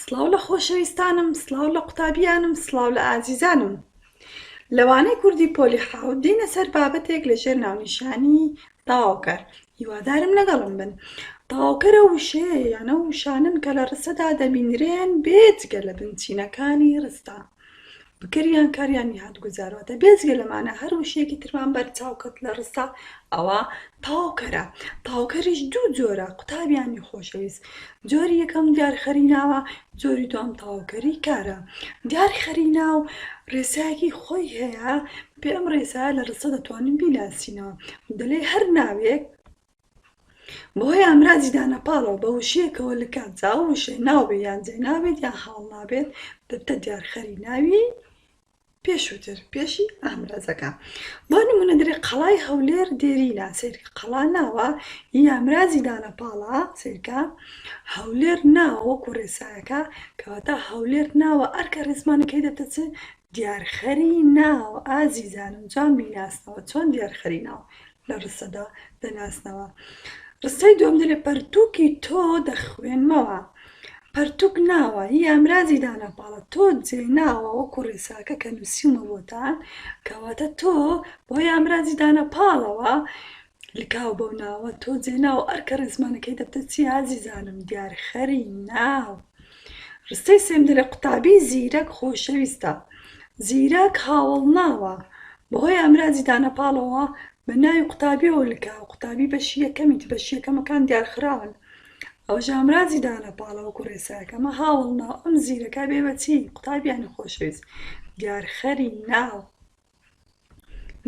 سڵاو لە خۆشەویستانم سڵاو لە قوتابیانم سڵاو لە ئازیزانم لەوانەی کوردی پۆلی حاوت دینە سەر بابەتێک لە ژێر ناونیشانی تاوکەر هیوادارم لەگەڵم بن تاوکەرە وشەیە یانە وشانن کە لە ڕستەدا دەبینرێن بێجگە لە بنچینەکانی ڕستان بکریان کاریان نیهات گوزارواتە بێجگە لەمانە هەر وشەیەکی ترمان بەرچاو کەت لە ڕستە ئەوا تاوکەرە تاوکەریش دوو جۆرە قوتابیانی خۆشەویست جۆری یەکەم دیار خەری ناوە جۆری دوام تاوکەری کارە دیار خەری ناو ڕێسایەکی خۆی هەیە پێم ڕێسا لە ڕستە دەتوانین بیناسینەوە دەلێ هەر ناوێک بەهۆی ئامرازی دانەپاڵەوە بە وشەیەکەوە لکە، جا ئەو وشەیە ناو بێت یان جێناو بێت یان حاڵ نابێت، دەبتە دیارخەری ناوی پێشووتر، پێشی ئامرازەکە. بۆ نموونە دەرێ قەڵای هەولێر دێرینە، سەیرکە قەڵا ناوە، ی ئامرازی دانەپاڵە، سەیرکە هەولێر ناوە وەکوو ڕێسایەکە، کەواتە هەولێر ناوە ئەرکە ڕێزمانەکەی دەبتە چ؟ دیارخەری ناو، ئازیزانم جوان بیناسنەوە، چۆن دیارخەری ناو لە ڕستەدا دەناسنەوە؟ ڕستەی دووەم دەلێ، پەرتووکی تۆ دەخوێنمەوە. پەرتووک ناوە، هی ئامرازی دانەپاڵە، تۆ جێی ناوە، وەکو ڕێساکە کە نووسیومە بۆتان، کەواتە تۆ بەهۆی ئامرازی دانەپاڵەوە لکاو بەو ناوە تۆ جێ ناو ئەرکە ڕێزمانەکەی دەبتە چی ئازیزانم دیار خەری ناو ڕستەی سێم دەرێ قوتابی زیرەک خۆشەویستە زیرەک هاوڵ ناوە بەهۆی ئەمراجی دانەپاڵەوە بە ناوی قوتابیەوە لکا قوتابی بەشی یەکەمیت بەش یەکەمەکان دیارخراون ئەو ژامراجی دانە پاڵەوە کوڕێساکەمە هاوڵ ناو ئەم زیرەکە بێ بەچی قوتابیانی خۆشەویست دیارخەری ناو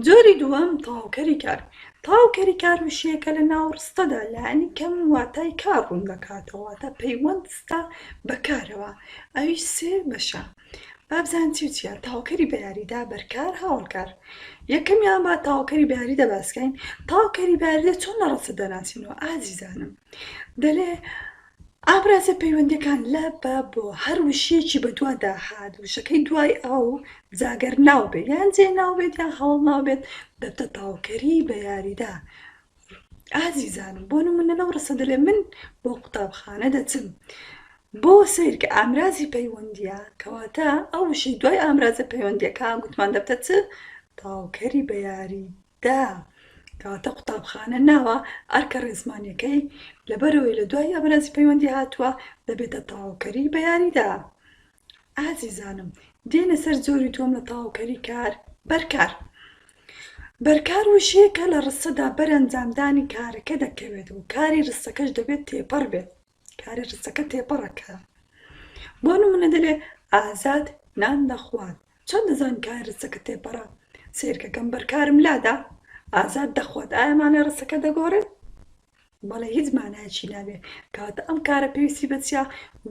جۆری دووەم تەواوکەری کار تەواوکەری کار وشەیەکە لە ناو ڕستەدا لانی کەم واتای کار ڕوون دەکاتەوە واتە پەیوەندستە بە کارەوە ئەویش سێ بەشە با بزانین چی و چیە تەواوکەری بە یاریدا بەرکار هاوڵکار یەکەمیان با تەواوکەری بە یاریدا باسکەین تەواوکەری بە یاریدا چۆن لە ڕستە دەناسینەوە ئازیزانم دەلێ ئامرازە پەیوەندەکان لە بە بۆ هەر وشیەکی بەدوادا هات وشەکەی دوای ئاو جا گەر ناو بێت یان جێ ناو بێت یان هەواڵ ناو بێت دەبتە تاوکەری بە یاریدا ئازیزانم بۆ نمونە لەو ڕستە دەلێ من بۆ قوتابخانە دەچم بۆ سەیر کە ئامرازی پەیوەندیە کەواتە ئەو وشەی دوای ئامرازە پەیوەندیەکان گوتمان دەبتە چ تاوکەری بە یاری دا، کەواتە قوتابخانە ناوە ئەرکە ڕێزمانیەکەی، لەبەرئەوەی لە دوای ئامرازی پەیوەندی هاتووە، دەبێتە تەواوکەری بە یاریدا. ئازیزانم، دێینە سەر جۆری دووەم لە تەواوکەری کار، بەرکار. بەرکار وشەیەکە لە ڕستەدا بەر ئەنجامدانی کارەکە دەکەوێت و کاری ڕستەکەش دەبێت تێپەڕ بێت. کارە رزەکە تێپەڕەکە بۆ نمونە دەلێ ئازاد نان دەخوات چۆن دەزان کار رزەکە تێپەڕە سیرکەکەم بەرکارم لادا ئازاد دەخوات ئایمانە رزەکە دەگۆڕێت بەڵێ هیچ مانایکی نابێ کاتە ئەم کارە پێویستی بەچیا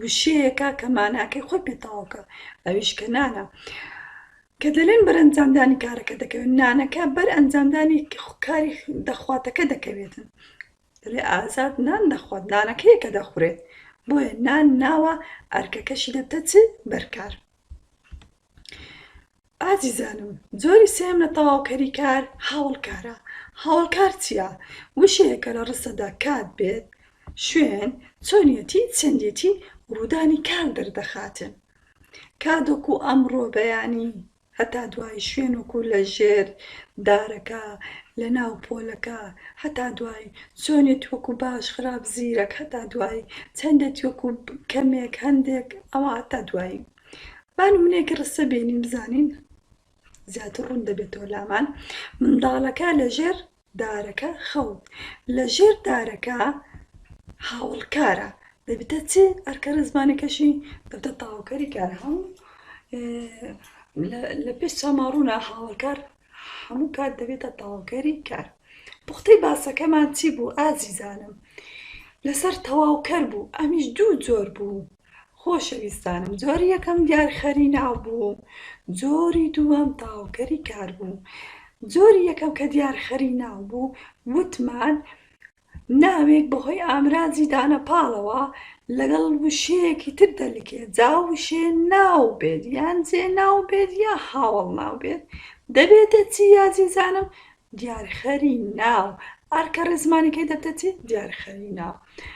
وشەیەەکە کە ماناکەی خۆی پێتاوکە ئەویش کە نانە کە دەلێن بەر ئەنجامدانی کارەکە دەکەوێت نانەکە بەر ئەنجامدانی کاری دەخواتەکە دەکەوێتن دەڵێ ئازاد نان دەخوات نانەکەیە کە دەخورێت بۆیە نان ناوە ئەرکەکەشی دەبتە چ بەرکار. ئازیزانم جۆری سێم لە تەواوکەری کار هاوڵکارە هاوڵکار چییە وشەیەکە لە ڕستەدا کات بێت شوێن چۆنیەتی چەندێتی ڕوودانی کار دەردەخاتن کادۆک و ئەمڕۆ بەیانی هەتا دوایی شوێن وەکو لە ژێر دارەکە لە ناو پۆلەکە هەتا دوایی چۆنێتی وەکو باش خراپ زیرەک هەتا دوایی چەندێتی وەکو کەمێک هەندێک ئەوە هەتا دوایی با نمونەیەکی ڕستە بینین بزانین زیاتر ڕوون دەبێتەوە لامان منداڵەکە لە ژێر دارەکە خەو لە ژێر دارەکە هاوڵکارە دەبیتە چ ئەرکە ڕێزمانەکەشی دەبتە تاوکەری کار هەم لە پێش چاماڕوونا هاوڵکار هەموو کات دەبێتە تاوکەری کار پوختەی باسەکەمان چی بوو ئازیزانم لەسەر تەواوکەر بوو ئەمیش دوو جۆر بوو خۆشەویستانم جۆری یەکەم دیارخەری ناو بوو جۆری دووەم تەواوکەری کار بوو جۆری یەکەم کە دیارخەری ناو بوو وتمان ناوێک بەهۆی ئامرازی دانە پاڵەوە لەگەڵ وشەیەکی تر دەلکێ جا وشێ ناو بێت یان جێ ناو بێت یا هاوەڵ ناو بێت دەبێتە چی یازیزانم دیارخەری ناو ئەرکە ڕێزمانەکەی دەبتە چی دیارخەری ناو